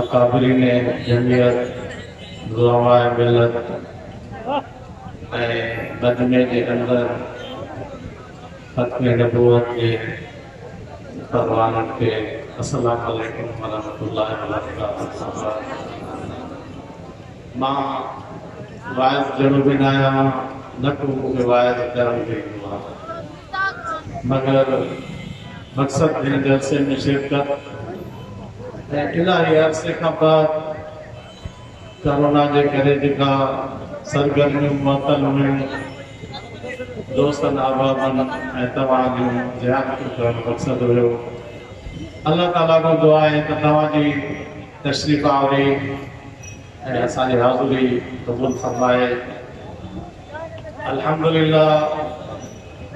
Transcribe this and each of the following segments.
اڪابرين جمعيت، علماء ملت ۽ مجمع جي اندر ختم نبوت جي تربانن کي السلام عليڪم ورحمة الله وبرڪاته سان مان واعظ جھڙو به نه آهيان نه ڪو مون کي واعظ ڪرڻ به ايندو آهي. مگر مقصد هن جلسي ۾ شرڪت ۽ الاهي عرصي کان بعد ڪرونا جي ڪري جيڪا سرگرميون معطل هيون دوستن احبابن ۽ توهان جون زيارتون ڪرڻ مقصد هيو الله تعالي کان دعا آهي ته توهان جي تشريف آوري ۽ اسان جي حاضري قبول فرمائي الحمدلله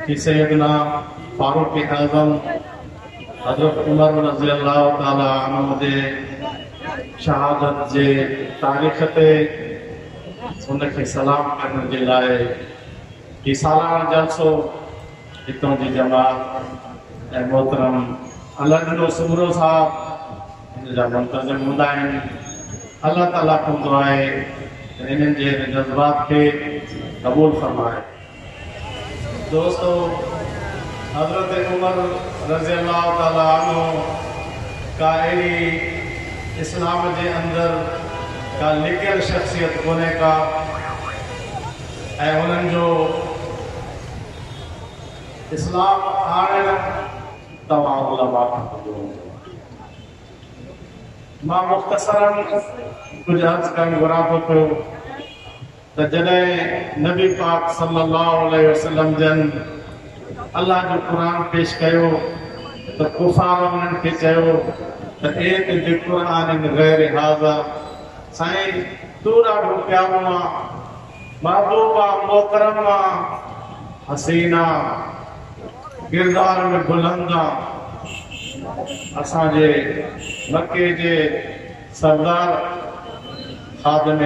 ڪي سيدنا فاروق اعظم حضرت عمر رضي الله تعالٰي عنه جي شهادت جي تاريخ تي ان کي سلام ڪرڻ جي لاء هي سالانه جلسو هتان جي جماعت ۽ محترم الله ڏنو سمرو صاحب هن جا منتظم هوندا آهن. الله تعاليٰ کان دعا آهي ته هنن جي هن جذبات کي قبول فرمائي. دوستو! حضرت عمر رضي الله تعالٰي عنه ڪا اهڙي اسلام جي اندر ڪا لڪيل شخصيت ڪونهي ڪا ۽ هنن جو اسلام آڻڻ توهان علماء کان ٻڌو هوندو. مان مختصراً ڪجهه عرض ڪرڻ گهران ٿو پيو ته جڏهن نبي پاڪ صلي الله عليه وسلم جن الله جو قرآن پيش ڪيو ته ڪفار انهن کي چيو ته اي تي به قرآن غير هاضا سائين تون ڏاڍو پيارو آن محبوبا محترمه حسينا ڪردار ۾ بلند آ اسان جي مڪي جي سردار خادم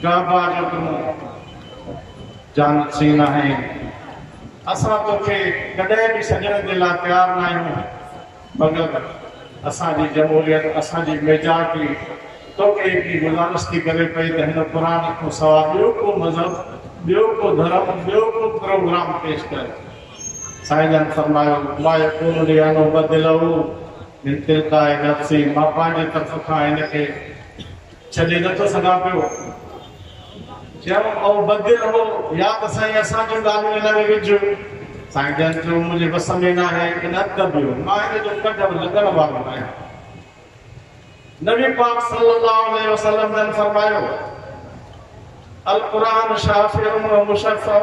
ڪعبه جو تون جانشين آهين اسان توکي ڪڏهن به سڄڻ جي لا تيار ناهيون. مگر اسان جي جمهوريت، اسان جي ميجارٽي توکي ايتري گذارش ٿي ڪري پئي ته هن قرآن کان سواء ٻيو ڪو مذهب، ٻيو ڪو ڌرم، ٻيو ڪو پروگرام پيش ڪر. سائين جن فرمايو، ما يڪون لي ان ابدله من تلقاء نفسي، مان پنهنجي طرف کان هن کي ڇڏي نه ٿو سگهان پيو. چيائون، او بدي رهو، يا ته سائين اسان جون ڳالهيون ان ۾ وجهه. سائين جن چيو، منهنجي وس ۾ ناهي، ان اڳ به مان ان جو ڪڍ لڳڻ وارو ناهيان. نبي پاڪ صلّي اللّٰه عليه وسلّم جن فرمايو، القرآن شافع و مشفع.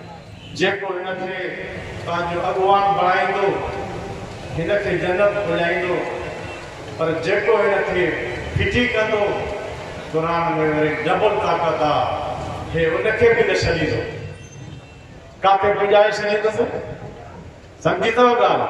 جيڪو هن کي پنهنجو اڳواڻ بڻائيندو، هن کي جنت پڄائيندو، پر جيڪو هن کي ڦٽي ڪندو، قرآن ۾ وري ڊبل طاقت آ، هي ان کي به نه ڇڏيندو، ڪاٿي پڄائي ڇڏيندس، سمجهي ٿو ڳالهه؟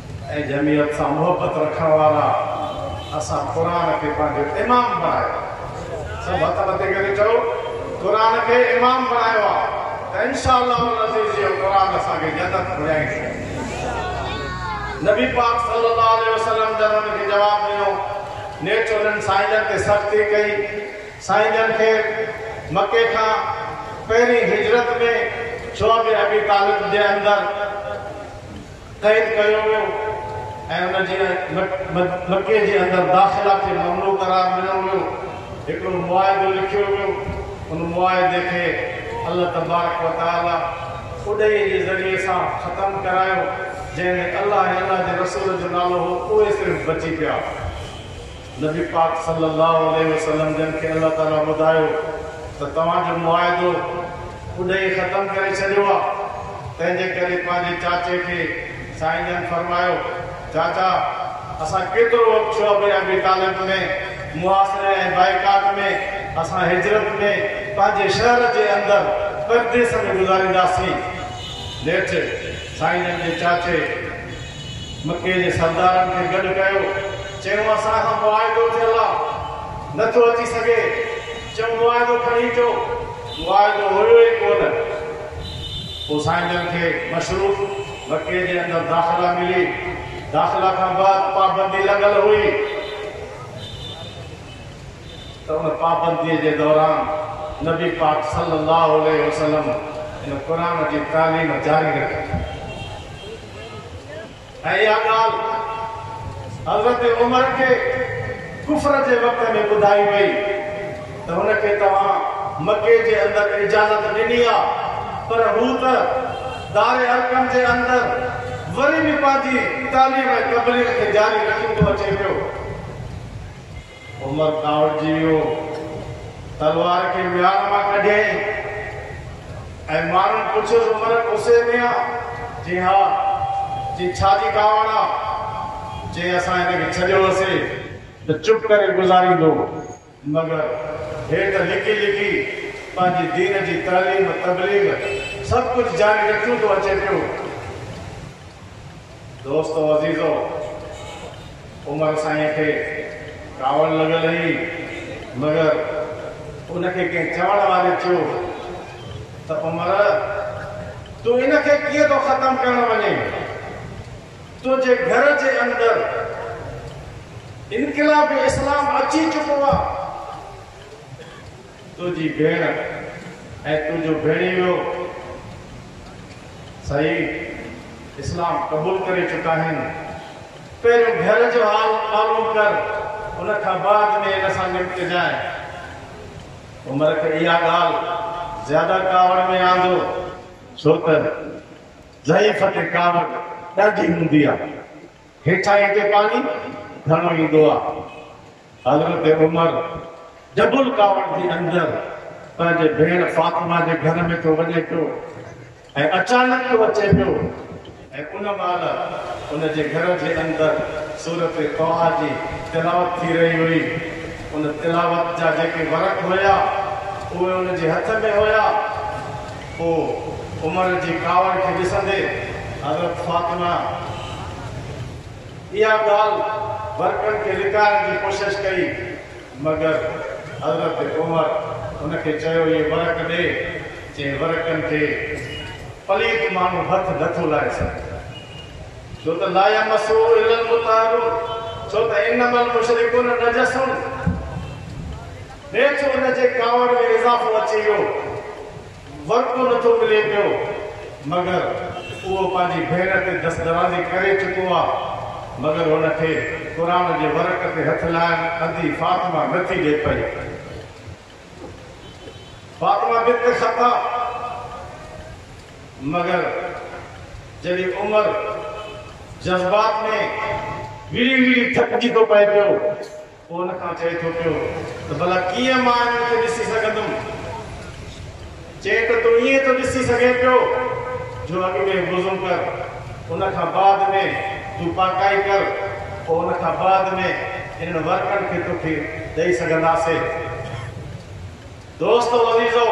۽ جمعيت سان محبت رکڻ وارا اسان قرآن کي پنهنجو امام بڻايو آهي سڀ هٿ مٿي ڪري چئو قرآن کي امام بڻايو آهي ته انشاء الله العزيز اهو قرآن اسان کي جنت گهرائيندو نبي پاڪ صلي الله عليه وسلم جن ان کي جواب ڏنو نيٺ انهن سائين جن تي سختي ڪئي سائين جن کي مڪي کان پهرين هجرت ۾ شعب ابي طالب جي اندر قيد ڪيو ويو ۽ ان جي مڪي جي اندر داخلا کي ممنوع قرار ڏنو ويو، هڪڙو معاهدو لکيو ويو، ان معاهدي کي الله تبارڪ و تعاليٰ اڏهي جي ذريعي سان ختم ڪرايو، جنهن ۾ الله ۽ الله جي رسول جو نالو هو، اهي صرف بچي پيا. نبي پاڪ صلّي اللّٰه عليه وسلّم جن کي الله تعاليٰ ٻڌايو ته توهان جو معاهدو اڏهي ختم ڪري ڇڏيو آ، تنهن جي ڪري پنهنجي چاچي کي سائين جن فرمايو، چاچا! اسان ڪيترو وقت ٿيو ابن ابي طالب ۾ محاصري ۽ بائيڪاٽ ۾ اسان هجرت ۾ پنهنجي شهر جي اندر پرديس ۾ گذارينداسين. نيٺ سائين جن جي چاچي مڪي جي سردارن کي گڏ ڪيو، چيون اسان کان معاهدو ٿيل آ، نه ٿو اچي سگهي، چيون معاهدو کڻي اچو، معاهدو هيو ئي ڪونه، پوء سائين جن کي مشروط مڪي جي اندر داخلا ملي، داخلا کان بعد پابندي لڳل هئي ته ان پابنديء جي دوران نبي پاڪ صلي الله عليه وسلم ان قرآن جي تعليم جاري رکي. ۽ اها ڳالهه حضرت عمر کي ڪفر جي وقت ۾ ٻڌائي وئي ته هن کي توهان مڪي جي اندر اجازت ڏني آ پر هو ته دار ارقم جي اندر وري به پنهنجي تعليم ۽ تبليغ کي جاري رکيندو اچي پيو. عمر ڪاوڙجي ويو، تلوار کي ميان مان ڪڍيائين ۽ ماڻهن پڇيس، عمر غصي ۾ آ؟ چي ها، چي ڇا جي ڪاوڙ آ؟ چي اسان هن کي ڇڏيو هوسي ته چپ ڪري گذاريندو مگر هي ته لڪي لڪي پنهنجي دين جي تعليم تبليغ سڀ ڪجهه جاري رکيون ٿو اچي پيو. دوستو عزيزو! عمر سائين کي ڪاوڙ لڳل هئي، مگر ان کي ڪنهن چوڻ واري چيو ته عمر! تون ان کي ڪيئن ٿو ختم ڪرڻ وڃين؟ تنهنجي گهر جي اندر انقلاب اسلام اچي چڪو آ. تنهنجي ڀيڻ ۽ تنهنجو ڀيڻيويو سائين اسلام قبول ڪري چڪا آهن پهريون گهر جو حال معلوم ڪر ان کان بعد ۾ ان سان نمٽجانء عمر کي اها ڳالهه زياده ڪاوڙ ۾ آندو. ڇو ته ضعيف کي ڪاوڙ ڏاڍي هوندي آهي. هيٺاهين تي پاڻي گهڻو ايندو آ. حضرت عمر جبل ڪاوڙ جي اندر پنهنجي ڀيڻ فاطمه جي گهر ۾ ٿو وڃي پيو ۽ اچانڪ ٿو اچي پيو ۽ ان مهل ان جي گهر جي اندر سورت طٰه جي تلاوت ٿي رهي هئي. ان تلاوت جا جيڪي ورق هيا اهي ان جي هٿ ۾ هيا. پوء عمر جي ڪاوڙ کي ڏسندي حضرت فاطمه اها ڳالهه ورقن کي لڪائڻ جي ڪوشش ڪئي مگر حضرت عمر هن کي چيو اهي ورق ڏي جنهن ورقن کي پليت ماڻهو هٿ نه ٿو لائي سگهي ڇو ته لا يمسه الا المطهرون ڇو ته انما المشرڪون نجسون. نيٺ ان جي ڪاوڙ ۾ اضافو اچي ويو. ورڪو نه ٿو ملي پيو، مگر اهو پنهنجي ڀيڻ تي دستدرازي ڪري چڪو آ، مگر هن کي قرآن جي ورق تي هٿ لائڻ ادي فاطمه نه ٿي ڏي پئي. فاطمه بنت خطاب مگر جڏهن عمر جذبات ۾ ويڙهي ويڙهي ٿڪجي ٿو پئي پيو. پوء ان کان چئي ٿو پيو ته ڀلا ڪيئن مان انهن کي ڏسي سگهندم؟ چئي ته تون ائين ٿو ڏسي سگهين پيو جو اڳ ۾ وضو ڪر، ان کان بعد ۾ تون پاڪائي ڪر، پوء ان کان بعد ۾ انهن ورقن کي توکي ڏئي سگهنداسين. دوستو عزيزو!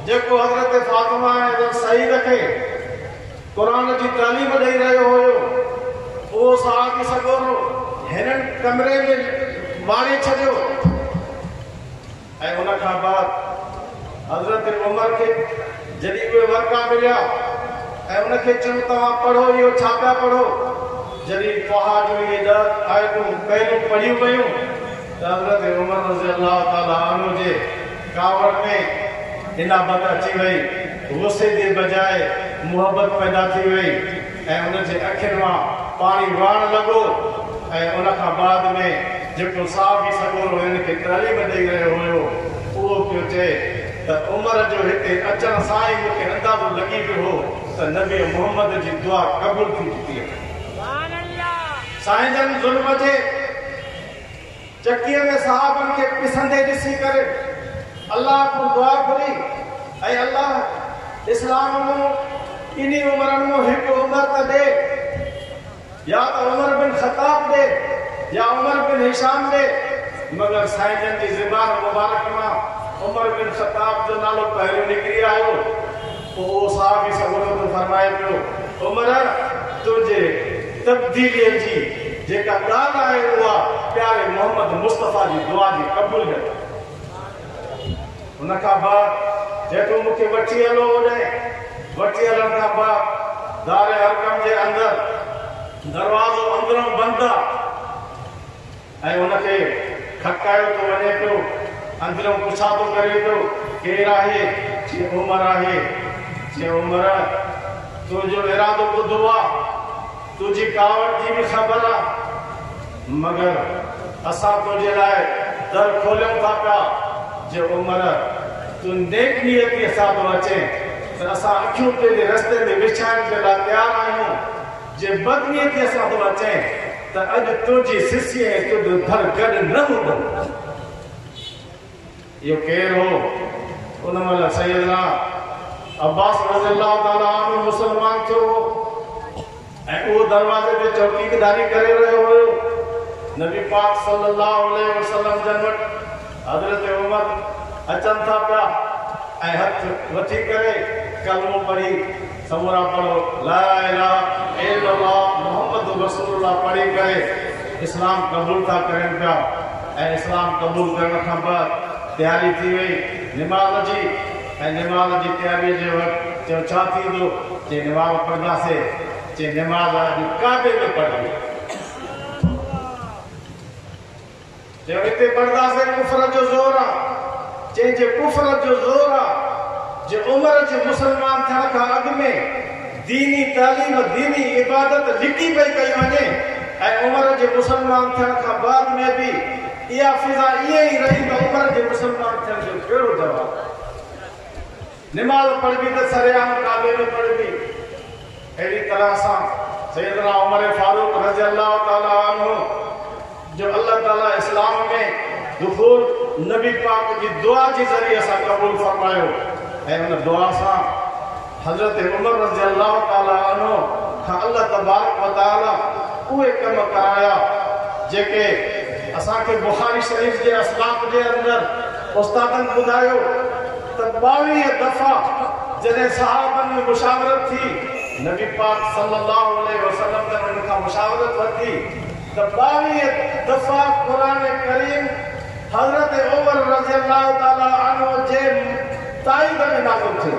جيڪو حضرت فاطمه ۽ حضرت سعيد کي قرآن جي تعليم ڏئي رهيو هيو، اهو صحابي سڳورو هنن ڪمري ۾ ماري ڇڏيو ۽ ان کان بعد حضرت عمر کي جڏهن اهي ورقا مليا ۽ ان کي چيو توهان پڙهو اهو ڇا پيا پڙهو؟ جڏهن طٰها جون اهي ڏهه آيتون پهريون پڙهيون ويون، ته حضرت عمر رضي الله تعالٰي عنه جي ڪاوڙ ۾ انابت اچي وئي، غصي جي بجاء محبت پيدا ٿي وئي ۽ ان جي اکين مان پاڻي وهڻ لڳو ۽ ان کان بعد ۾ جيڪو صحابي سڳورو هنن کي تعليم ڏئي رهيو هيو اهو پيو چئي ته عمر جو هتي اچڻ سان ئي مون کي اندازو لڳي ويو هو ته نبي محمد جي دعا قبول ٿي چڪي آهي. سائين جن ظلم جي. چڪيء ۾ صحابن کي پسندي ڏسي ڪري الله کان دعا گهري، اي الله! اسلام مون ٻنهي عمرن مون هڪ عمر ته ڏي، يا ته عمر بن خطاب ڏي يا عمر بن هشام ڏي، مگر سائين جن جي زبان مبارڪ مان عمر بن خطاب جو نالو پهريون نڪري آيو. پوء اهو صاحب ئي سڳورو ٿو فرمائي پيو، عمر! تنهنجي تبديليء جي جيڪا ڳالهه آهي اها پياري محمد مصطفيٰ جي دعا جي قبوليت آهي. ان کان بعد جنهن تون مون کي وٺي هلو اوڏانهن وٺي هلڻ کان بعد دار ارقم جي اندر دروازو اندرئون بند آ. ۽ ان کي ککايو ٿو وڃي پيو، اندريون پڇا ٿو ڪري پيو، ڪير آهي؟ چي عمر آهي. چي عمر! تنهنجو ارادو ٻڌو آ، تنهنجي ڪاوڙ جي به خبر آ، مگر اسان تنهنجي لاء در کوليون ٿا پيا، چي عمر! تون نيڪ نيتيء سان ٿو اچين ته اسان اکيون تنهنجي رستي تي وڇائڻ جي لاء تيار آهيون. جي بدنيتيء سان توهان چئين ته اڄ تنهنجي سسيء ۽ تنهنجو ڌر گڏ نه هوندو. اهو ڪير هو؟ ان مهل سيدنا عباس رضي الله تعاليٰ عنه مسلمان ٿيو هو ۽ اهو دروازي تي چوڪيداري ڪري رهيو هيو. نبي پاڪ صلّي اللّٰه عليه وسلّم جن وٽ حضرت عمر اچن ٿا پيا ۽ هٿ مٿي ڪري ڪلمو پڙهي، سمورا پڙهو لا اله الا الله محمد رسول الله پڙهي ڪري اسلام قبول ٿا ڪرين پيا ۽ اسلام قبول ڪرڻ کان بعد تياري ٿي وئي نماز جي ۽ نماز جي تياري جي وقت چيو ڇا ٿيندو چي نماز پڙهنداسي چي نماز اڄ ڪعبي ۾ پڙهبي. يا هتي برداس ڪفر جو زور آ، جنهن جي ڪفر جو زور آ، جي عمر جي مسلمان ٿيڻ کان اڳ ۾ ديني تعليم، ديني عبادت لڪي پئي ڪئي وڃي ۽ عمر جي مسلمان ٿيڻ کان بعد ۾ به اها فضا ائين ئي رهي ته عمر جي مسلمان ٿيڻ جو ڪهڙو جواز آ. نماز پڙهبي ته سرعام ڪعبي ۾ پڙهبي. اهڙي طرح سان سيدنا عمر فاروق رضي الله تعالٰي عنه جو الله تعالٰي اسلام ۾ دخول نبي پاڪ جي دعا جي ذريعي سان قبول فرمايو ۽ ان دعا سان حضرت عمر رضي الله تعالٰي عنه کان الله تبارڪ وتعالٰي اهي ڪم ڪرايا جيڪي اسان کي بخاري شريف جي اسباق جي اندر استادن ٻڌايو. ته ٻاويهه دفعا جڏهن صحابن ۾ مشاورت ٿي، نبي پاڪ صلي الله عليه وسلم جن ان کان مشاورت ورتي ته ٻاويهه دفعا قرآن ڪريم حضرت عمر رضي الله تعالٰي عنه جي تائيد ۾ نازل ٿيو.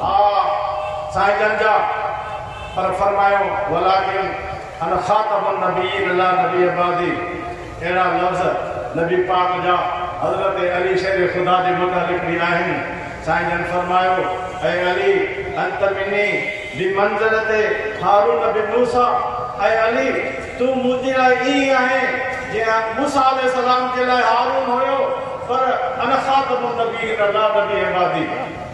ها سائين جن جا پر فرمايو ولاڪن انا خاتم النبيين لا نبي بعدي اهڙا لفظ نبي پاڪ جا حضرت علي شير خدا جي متعلق به آهن سائين جن فرمايو اي علي انت مني بمنزلت هارون بن موسيٰ اي علي تون منهنجي لاء ائين آهين جيئن موسيٰ عليه السلام جي لاء هارون هيو پر انا خاتم النبيين لا نبي بعدي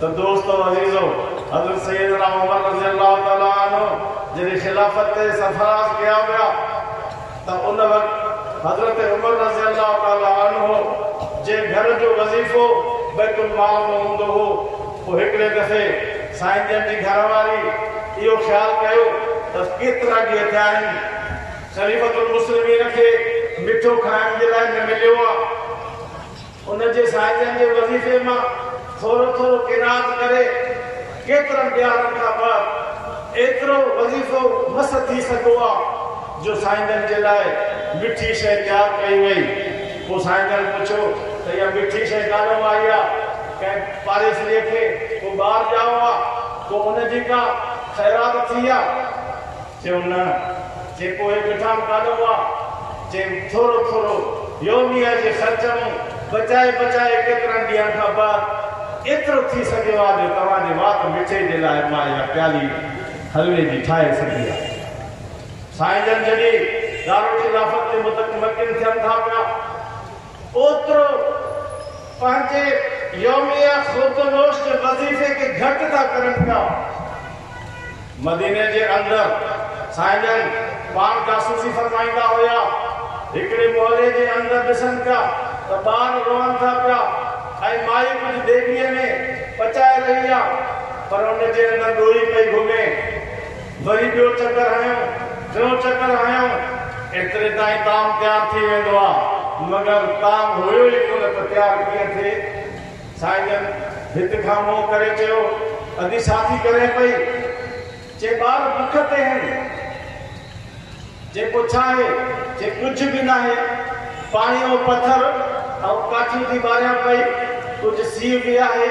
ته دوستو عزيزو! حضرت سيدنا عمر رضي الله تعالٰي عنه جڏهن خلافت تي سرفراز ڪيا ويا ته ان وقت حضرت عمر رضي الله تعالٰي عنه جي گهر جو وظيفو بيت المال ۾ هوندو هو پوء هڪڙي دفعي سائين جن جي گهر واري اهو خيال ڪيو ته ڪيترا ڏينهن ٿيا آهن خليفة المسلمين کي مٺو کائڻ جي لاء نه مليو آهي. ان جي سائتن جي وظيفي مان ٿورو ٿورو قناعت ڪري، ڪيترن ڏيارن کان بعد ايترو وظيفو مس ٿي سگهو ها، جو سائتن جي لاء مٺي شيء تيار ڪئي وئي. پوء سائتن پڇيو ته اها مٺي شيء ڪانئون آئي ها، ڪنهن پاڙيسريء کي ڪو ٻار ڄائو ها، ڪو ان جي ڪا خيرات ٿي ها؟ ٿيو نه جيڪو هي مٺاڻ ڪاڏو آ جي ٿورو ٿورو يوميه جي خرچ مون بچائي بچائي ڪيترن ڏينهن کان بعد ايترو ٿي سگهيو آ جو توهان جي وات مٺي جي لاء مان اها پيالي حلوي جي ٺاهي سگهي آ سائين جن جڏهن دارالخلافت جي متمڪن ٿين ٿا پيا اوترو پنهنجي يوميه خودنوشت وظيفي کي گهٽ ٿا ڪرن پيا. مديني جي اندر سائين جن پاڻ جاسوسي فرمائيندا هيا. هڪڙي محلي جي اندر ڏسن پيا ته ٻار روئن ٿا پيا ۽ مائي ڪجهه ديڳڙيء ۾ پچائي رهي آ پر ان جي اندر ڏوهي پئي گهمي. وري ٻيو چڪر هنيو، ٽيون چڪر هنيو، ايتري تائين تام تيار ٿي ويندو آ، مگر تام هيو ئي ڪونه ته تيار ڪيئن ٿئي؟ سائين جن ڀت کان منهن ڪري چيو، ادي ساٿي ڪرين پئي، چي ٻار بک تي هين، جيڪو ڇاهي، چي ڪجهه به ناهي، پاڻي ۽ پٿر ۽ ڪاٺين جي ٻاريان پئي، ڪجهه سيء به آهي.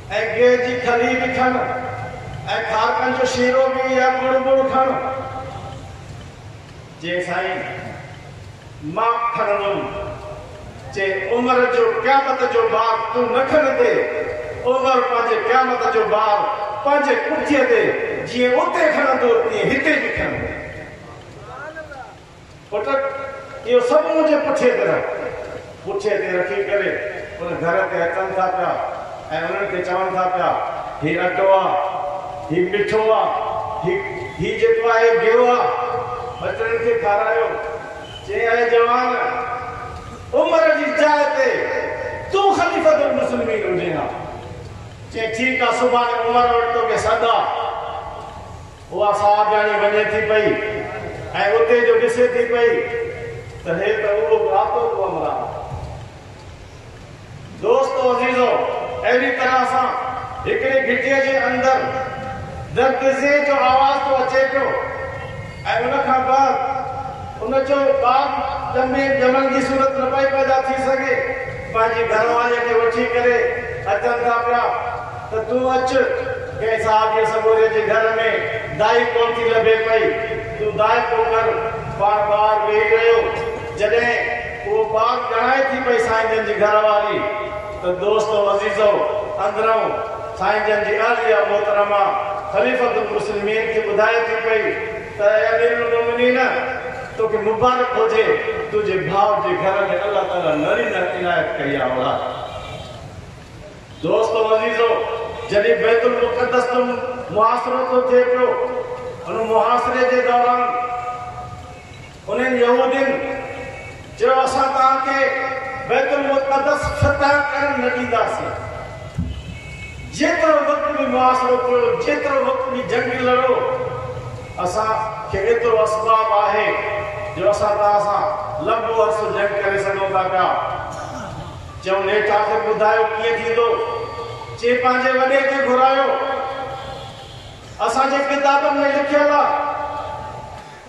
اي گيهه جي کلي به کڻ، اي کارڪن جو شيرو به يا ڳڙ ٻڙ کڻ. چي سائين مان به کڻندم. چي عمر جو قيامت جو بار تون نه کنندي، عمر پنهنجي قيامت جو بار پنهنجي ڪٻجي تي جيئن اتي کڻندو تيئن هتي به کڻندي. پٽڪ اهو سڀ منهنجي پٺي تي رک. پٺي تي رکي ڪري ان گهر تي اچن ٿا پيا ۽ انهن کي چون ٿا پيا، هي اٽو آ، هي مٺو آ، هي هي جيڪو آهي گيو آ، ٻچڙن کي کارايو. چئين، اي جوان! عمر جي جاء تي تون خليفة المسلمين هجين ها. چئين، ٺيڪ آ، سڀاڻي عمر وٽ توکي سڏ آ. اها ساهه ڄاڻي وڃي ٿي پئي ۽ اتي جو ڏسي ٿي پئي ته هي ته اهو ڳاهتو ڪو عمران آهي. دوستو عزيزو! اهڙي طرح سان هڪڙي گهٽيء جي اندر درد زئي جو آواز ٿو اچي پيو ۽ ان کان بعد ان جو ٻار ڄمي ڄمڻ جي صورت نه پئي پيدا ٿي سگهي، پنهنجي گهرواريء کي وٺي ڪري اچن ٿا پيا. ته تون اچ، ڪنهن صحابيء سڳوريء جي گهر ۾ دائي ڪونه ٿي لڀي پئي، تون ذائقو ڪر. پاڻ ٻار ويهي رهيو. جڏهن اهو ٻار ڄڻائي ٿي پئي سائين جن جي گهر واري ته دوستو عزيزو، اندرئون سائين جن جي اهليه محترمه خليفة المسلمين کي ٻڌائي ٿي پئي ته اي امير المومنين! توکي مبارڪ هجي، تنهنجي ڀاء جي گهر ۾ الله تعاليٰ نرينه عنايت ڪئي آ اولاد. دوستو عزيزو! جڏهن بيت المقدس تي محاصرو ٿو ٿئي پيو، ان محاصري جي دوران انهن يهودين چيو اسان توهان کي بيت المقدس فتح ڪرڻ نه ڏينداسين. جيترو وقت به محاصرو ڪيو، جيترو وقت به جنگ لڙو، اسان کي ايترو اسباب آهي جو اسان توهان سان لنبو عرصو جنگ ڪري سگهون ٿا پيا. چيو نيٺ آخر ٻڌايو ڪيئن ٿيندو؟ چي پنهنجي وڏي کي گهرايو. اسان جي ڪتابن ۾ لکيل آ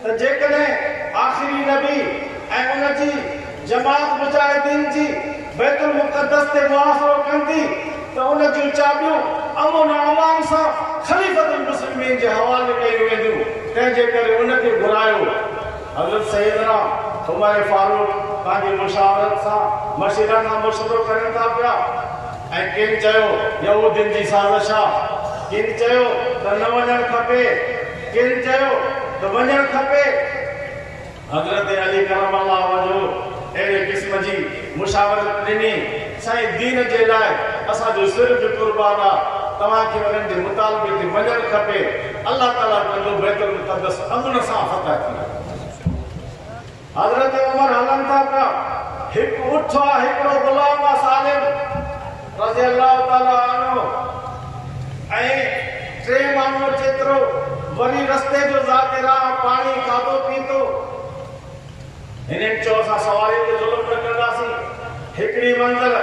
ته جيڪڏهن آخري نبي ۽ ان جي جماعت مجاهدين جي بيت المقدس تي محاصرو ڪندي ته ان جون چاٻيون امن ۽ امان سان خليفة المسلمين جي حوالي ڪيون وينديون تنهن جي ڪري ان کي گهرايو. حضرت سيدنا عمر فاروق پنهنجي مشاورت سان مشيره کان مشورو ڪرين ٿا پيا ۽ ڪن چيو يهودين جي سازش آ، ڪن چيو ته نه وڃڻ کپي، ڪن چيو ته وڃڻ کپي. حضرت علي ڪرم الله وجهه اهڙي قسم جي مشاورت ڏني، سائين دين جي لاء اسان جو سر به قربان آ، توهان کي انهن جي مطالبي تي مڃڻ کپي، الله تعاليٰ ڪندو بيت المقدس امن سان فتح ٿئي. حضرت عمر هلن ٿا پيا، هڪ اٺ آ، هڪڙو غلام آ سالم رضي الله تعاليٰ عنه ۽ ٽي ماڻهو جيترو وري رستي جو ذاڪر آ، پاڻي کاڌو پيتو، هنن چيو اسان سوارين تي ظلم نه ڪنداسين، هڪڙي منزل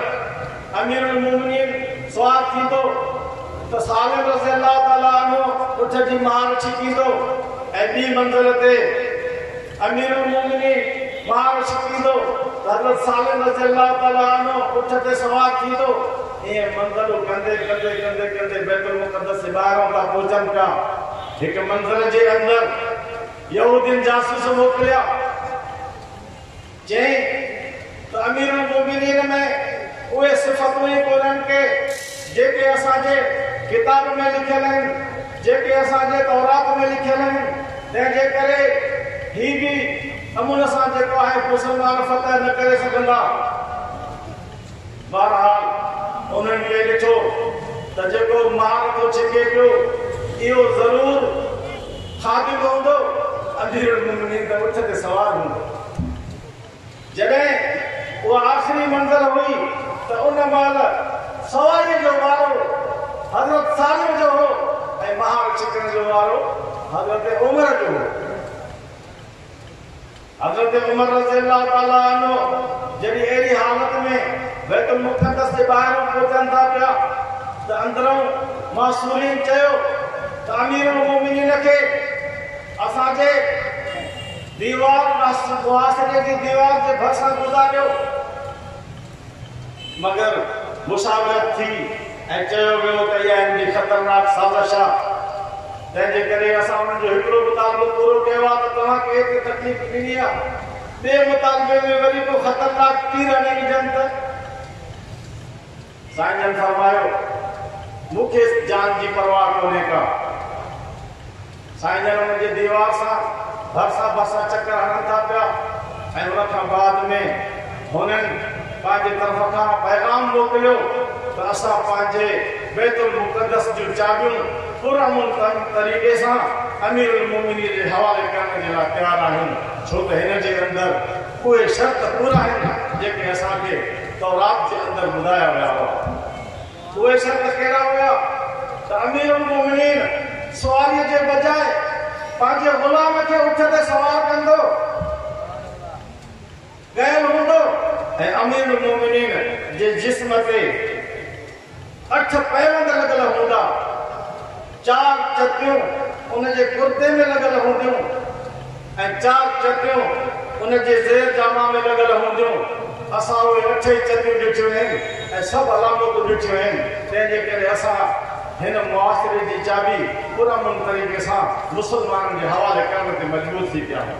امير المومنين سوار ٿيندو ته سالم رضي الله تعاليٰ عنه اٺ جي مهار ڇڪيندو ۽ ٻي منزل تي امير المومنين مهار ڇڪيندو ته حضرت سالم رضي الله تعاليٰ عنه اٺ تي سوار ٿيندو، ائين منزلون ڪندي ڪندي ڪندي ڪندي بيت المقدس جي ٻاهران ٿا پهچن پيا، هڪ منزل جي اندر. يهودين جاسوس موڪليا، جئين ته اميرالمومنين ۾ اهي صفتون ئي ڪونهن ڪي جيڪي اسان جي ڪتاب ۾ لکيل آهن، جيڪي اسان جي تورات ۾ لکيل آهن، تنهن جي ڪري هي به امن سان جيڪو آهي مسلمان فتح نه ڪري سگهندا. بهرحال انهن کي ڏٺو ته جيڪو مال ٿو ڇڪي پيو اهو ضرور خادم هوندو، اميرالمومنين ته اٺ تي سوار هوندو. جڏهن اها آخري منزل هئي ته ان مهل سواريء جو وارو حضرت سالم جو هو ۽ مهار ڇڪڻ جو وارو حضرت عمر جو هو. حضرت عمر رضي الله تعالٰي عنه جڏهن اهڙي حالت ۾ بيت المقدس جي ٻاهران پهچن ٿا پيا ته اندرئون محصورين چيو ته امير المؤمنين کي اسان جي ديوار، محاصري جي ديوار، جي ڀرسان گذاريو. مگر مساويت ٿي ۽ چيو ويو ته اها هن جي خطرناڪ سازش آ تنهن جي ڪري اسان انهن جو هڪڙو مطالبو پورو ڪيو آ ته توهان کي ايتري تڪليف ڏني آ ٻئي مطالبي ۾ وري ڪو خطرناڪ تير هڻي وجهن ته سائين جن فرمايو مون کي جان جي پرواهه ڪونهي ڪا. سائين جن ان جي ديوار سان ڀرسان ڀرسان چڪر هڻن ٿا پيا ۽ ان کان بعد ۾ هنن پنهنجي طرف کان پيغام موڪليو ته اسان پنهنجي بيت المقدس جون چاٻيون پر امن طريقي سان امير المومنين جي حوالي ڪرڻ جي لاء تيار آهيون ڇو ته هن جي اندر اهي شرط پورا آهن جيڪي اسان کي تورات جي اندر ٻڌايا ويا هئا. اهي شرط ڪهڙا هيا ته امير المومنين سواريء جي بجاء پنهنجي غلام کي اٺ تي سوار ڪندو ڪيل هوندو ۽ امير المومنين جي جسم تي اٺ پيوند لڳل هوندا. چار چٽيون ان جي ڪرتي ۾ لڳل هونديون ۽ چار چٽيون ان جي زير جامه ۾ لڳل هونديون. اسان اهي اٺئي چٽيون ڏٺيون آهن ۽ سڀ علامتون ڏٺيون آهن، تنهن جي ڪري اسان هن محاصري جي چاٻي پرامن طريقي سان مسلمانن جي حوالي ڪرڻ تي مجبور ٿي پيا آهيون.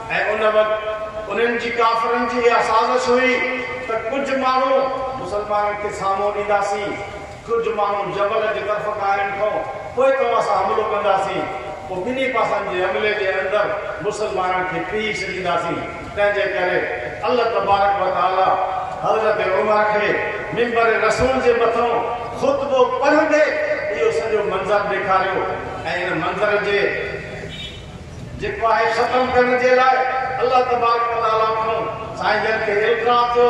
۽ ان وقت انهن جي ڪافرن جي اها سازش هئي ته ڪجهه ماڻهو مسلمانن کي سامو ڏينداسين، ڪجهه ماڻهو جبل جي طرف کان هنن کان پوء توهان سان حملو ڪنداسين، پوء ٻنهي پاسن جي حملي جي اندر مسلمانن کي پيهي ڇڏينداسين، تنهنجي ڪري الله تبارڪ و تعاليٰ حضرت عمر کي منبر رسول جي مٿان خطبو پڙهندي اهو سڄو منظر ڏيکاريو ۽ ان منظر جي جيڪو آهي ختم ڪرڻ جي لاء الله تبارڪ و تعاليٰ کان سائين جن کي القاء ٿيو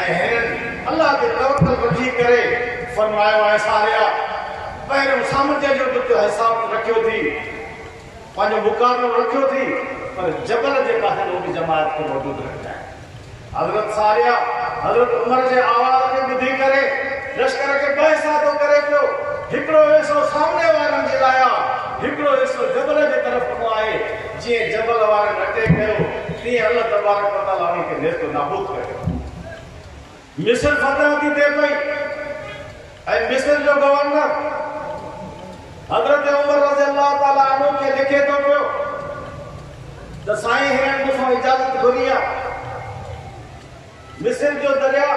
۽ هنن الله تي توڪل رکي ڪري فرمايو اي ساريا! پهريون سامنڊ جو به تو حساب رکيو ٿي، پنهنجو مقابلو رکيو ٿي، پر جبل جي پاسي به جماعت کي موجود رکجانء. حضرت ساريه حضرت عمر جي آواز کي ٻڌي ڪري لشڪر کي ٻه حصا ٿو ڪري پيو. هڪڙو حصو سامني وارن جي لاء آ، هڪڙو حصو جبل جي طرف ڪنو آهي. جيئن جبل وارن اٽيڪ ڪيو، تيئن الله تبارڪ وتعاليٰ انهن کي نيست و نابود ڪري ڇڏيو. مصر فتح ٿي ٿئي پئي ۽ مصر جو گورنر حضرت عمر رضي الله تعالٰي عنه کي لکي ٿو پيو ته سائين هينئر مون کان اجازت گهري آ مصر جو درياء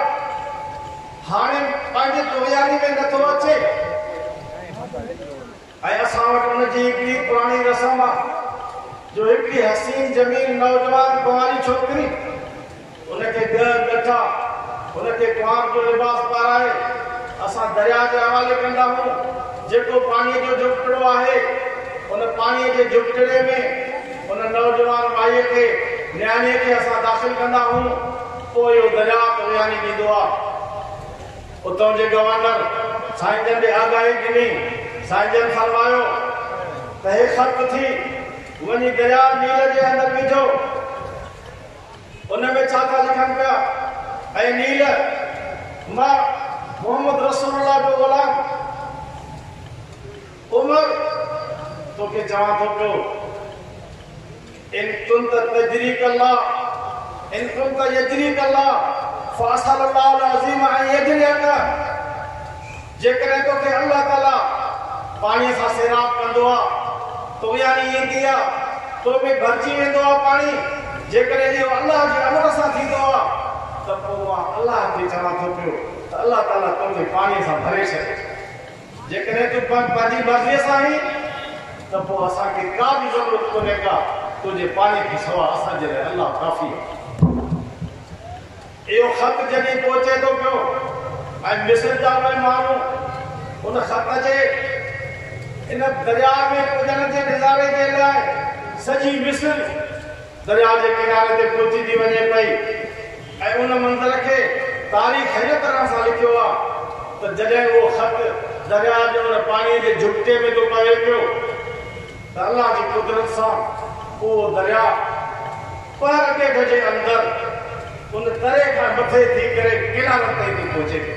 هاڻي پنهنجي دورياري ۾ نٿو اچي. ۽ اسان وٽ ان جي هڪڙي پراڻي رسم آ جو هڪڙي حسين جميل نوجوان ڪنواري ڇوڪري ان کي ڳهه ڳٺا ان کي ڪنوار جو لباس پارائي اسان درياء جي حوالي ڪندا هئون جيڪو پاڻي جو جهپٽڙو آهي ان پاڻي جي جهپٽڙي ۾ ان نوجوان مائي کي نياڻي کي اسان داخل ڪندا هئون پوء اهو درياء توياني ڏيندو آ. اتان جي گورنر سائين جن به آگاهي ڏني. سائين جن فرمايو ته هي خرق ٿي وڃي درياء نيل جي اندر وجهو. ان ۾ ڇا ٿا لکن پيا؟ اي نيل! مان محمد رسول الله جو غلام. عمر، توکي چوان ٿو پيو، ان ڪنت تجريك الله، ان ڪنت يجريك الله، فاسأل الله العظيم ان يجريك، جيڪڏهن توکي الله تعاليٰ پاڻيء سان سيراب ڪندو آ، تو يعني ايندي آ، تو ۾ ڀرجي ويندو آ پاڻي، جيڪڏهن اهو الله جي امر سان ٿيندو آ، ته پوء مان الله کي چوان ٿو پيو ته الله تعاليٰ توکي پاڻيء سان ڀري ڇڏي. جيڪڏهن تون پنهنج پنهنجي مرضيء سان آهين ته پوء اسان کي ڪا به ضرورت ڪونهي ڪا تنهنجي پاڻي کان سواء اسان جي لاء الله ڪافي آهي. اهو خط جڏهن پهچي ٿو پيو ۽ مصر جا اهي ماڻهو ان خط جي ان درياء ۾ پڄڻ جي نظاري جي لاء سڄي مصر، درياء جي ڪناري تي پهچي ٿي وڃي پئي ۽ ان منظر کي تاريخ هن طرح سان لکيو آ ته جڏهن اهو خط درياء جي ان پاڻيء جي جهڪٽي ۾ ٿو پوي پيو ته الله جي قدرت سان اهو درياء پهر ڏيڍ جي اندر ان تري کان مٿي ٿي ڪري ڪنارن تائين ٿي پهچي پيو.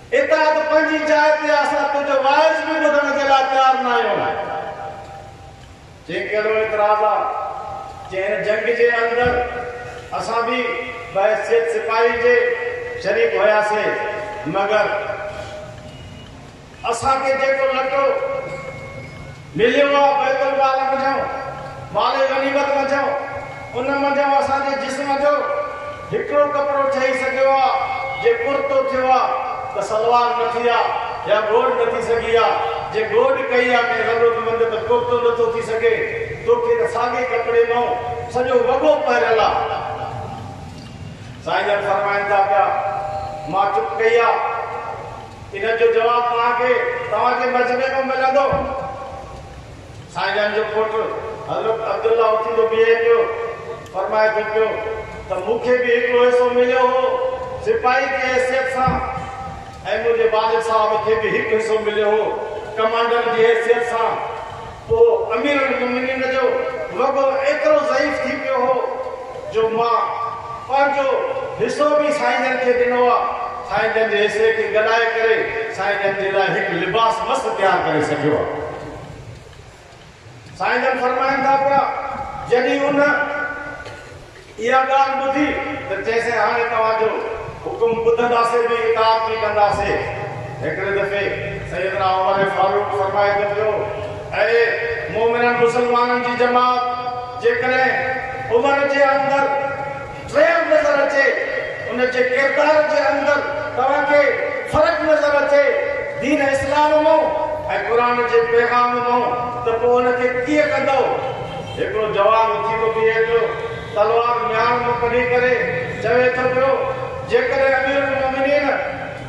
اتحاد پنهنجي جاء تي آ اسان تنهنجو وائس به ٻڌڻ جي لاء تيار ناهيون جيڪي اهڙو اعتراض آ جي هن جنگ جي اندر اسان به بحيثيت سپاهي جي شريڪ هياسي مگر اسان کي جيڪو لٽو مليو آهي بيت المال منجهان مال غنيمت منجهان ان منجهان اسان جي جسم جو هڪڙو ڪپڙو ٺهي سگهيو آهي جي ڪرتو ٿيو آهي ته سلوار نه ٿي آهي يا گوڏ نه ٿي سگهي آهي جي گوڏ ڪئي آهي ڪنهن ضرورتمند ته ڪرتو نه ٿو ٿي سگهي توکي ته ساڳي ڪپڙي مان سڄو وڳو پهريل آهي سائين جن فرمائن ٿا پيا مان چپ ڪئي آهي. ان جو جواب توهان کي توهان جي مجمعي مان ملندو. سائين جان جو پٽ حضرت عبدالله اٿي ٿو بيهي پيو، فرمائي ٿو پيو ته مون کي به هڪڙو حصو مليو هو سپاهي جي حيثيت سان ۽ منهنجي والد صاحب کي به هڪ حصو مليو هو ڪمانڊر جي حيثيت سان. پوء امير المومنين جو وڳو ايترو ضعيف ٿي پيو هو جو مان پنهنجو حصو به سائين جن کي ڏنو آ، سائين جن جي حصي کي گڏائي ڪري سائين جن جي لاء هڪ لباس مست تيار ڪري سگهيو آ. سائين جن فرمائن ٿا پيا جڏهن ان. اها ڳالهه ٻڌي ته چيسين هاڻي توهان جو حڪم ٻڌنداسين به اطاعت به ڪنداسين. هڪڙي دفعي سيدنا عمر فاروق فرمائي ته پيو اي مؤمنن مسلمانن جي جماعت جيڪڏهن عمر جي اندر ٽريل نظر اچي ان جي ڪردار جي اندر توهان کي فرق نظر اچي دين اسلام مئون ۽ قرآن جي پيغام مئون ته پوء ان کي ڪيئن ڪندؤ؟ هڪڙو جوان اٿي ٿو بيهي پيو، تلوار ميان مان ڪڍي ڪري چوي ٿو پيو، جيڪڏهن اميرالمومنين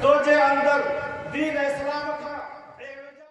تنهنجي اندر دين اسلام کان اهڙو جهل.